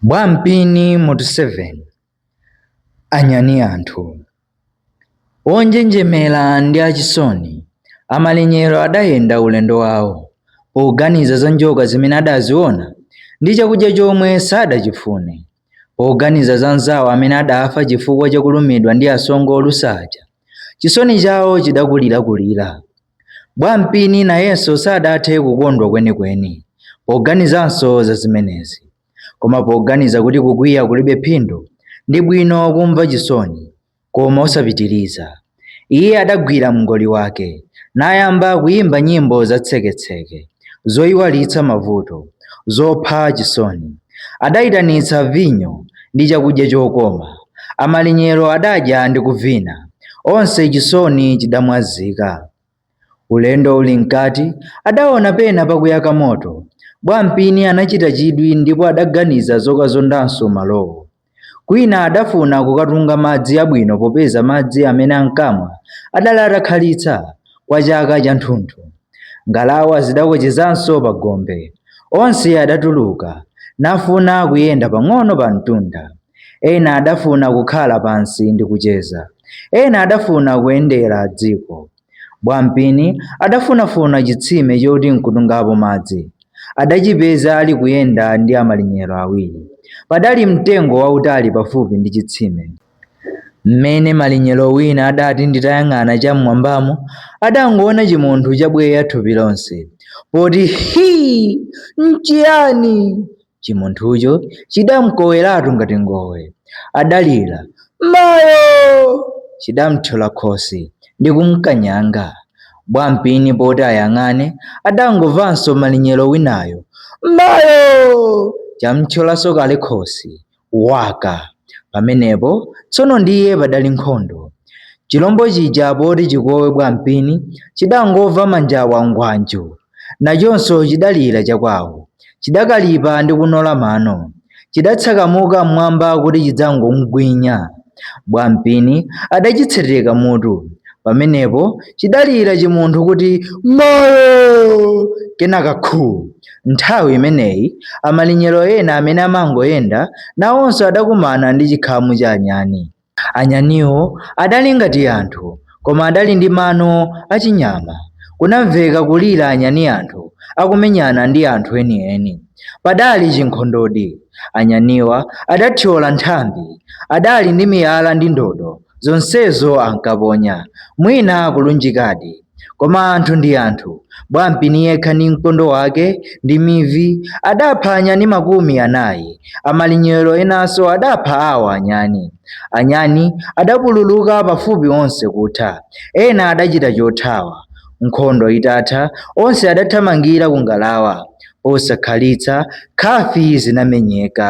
Bwampini mutu 7 Anyani anthu onjenjemera ndi achisoni amalinyero adayenda ulendo wawo poganiza za njoka zimene adaziona ndi chakudya chomwe sadachifune poganiza za nzawo amene adafa chifukwa chakulumidwa ndi asongo olusa aja chisoni chawo chidakulirakulira Bwampini nayenso sadathe kukondwa kwenikweni poganizanso za zimenezi. Koma poganiza kuti kukwiya kulibe phindu, ndi bwino kumva chisoni, koma osapitiriza. Iye adagwira mngoli wake, nayamba kuyimba nyimbo za tseketseke. zoiwalitsa mavuto, zopha chisoni. Adaitanitsa vinyo ndi chakudya chokoma, amalinyero adadya ndi kuvina, onse chisoni chidamwazika. Ulendo uli mkati, adaona pena pakuyaka moto. Bwampini anachita chidwi ndipo adaganiza zokazondanso malowo. Kwina adafuna kukatunga madzi abwino popeza madzi amene ankamwa adali atakhalitsa kwa chaka chathunthu. Ngalawa zidakochezanso pa gombe. Onse adatuluka nafuna kuyenda pang'ono pa mtunda. Ena adafuna kukhala pansi ndi kucheza. Ena adafuna kuyendera dziko. Bwampini adafunafuna chitsime choti nkutungapo madzi. Adachipeza ali kuyenda ndi amalinyero awiri. Padali mtengo wautali pafupi ndi chitsime. Mmene malinyero wina adati nditayang'ana cham'mwambamo, adangoona chimunthu chabweya thupi lonse. Poti hii! Nchiyani? Chimunthucho chidamkoweratu ngati ngowe. Adalira, Mayo! Chidamthyola khosi ndi kumkanyanga. Bwampini poti ayang'ane, adangomvanso malinyero winayo, Mayo! Chamthyolanso kale khosi. waka. Pamenepo tsono ndiye padali nkhondo. Chilombo chija poti chikowe Bwampini chidangomva manjawa ngwanjo, nachonso chidalira chakwawo. Chidakalipa ndi kunola mano. Chidatsakamuka m'mwamba kuti chidzangomgwinya. Bwampini adachitseteka mutu. Pamenepo chidalira chimunthu kuti mayo! Kenaka khu! Nthawi imeneyi amalinyero ena amene amangoyenda nawonso adakumana ndi chikhamu cha anyani. Anyaniwo adali ngati anthu, koma adali ndi mano achinyama. Kunamveka kulira anyani anthu akumenyana ndi anthu enieni. Padali chinkhondodi. Anyaniwa adathyola nthambi. Adali ndi miyala ndi ndodo, zonsezo ankaponya, mwina kulunjikadi. Koma anthu ndi anthu, Bwampini yekha ndi mkondo wake ndi mivi adapha anyani makumi anayi, amalinyero enanso adapha awo anyani. Anyani adapululuka pafupi onse kutha, ena adachita chothawa. Nkhondo itatha, onse adathamangira ku ngalawa. Posakhalitsa, nkhafi zinamenyeka.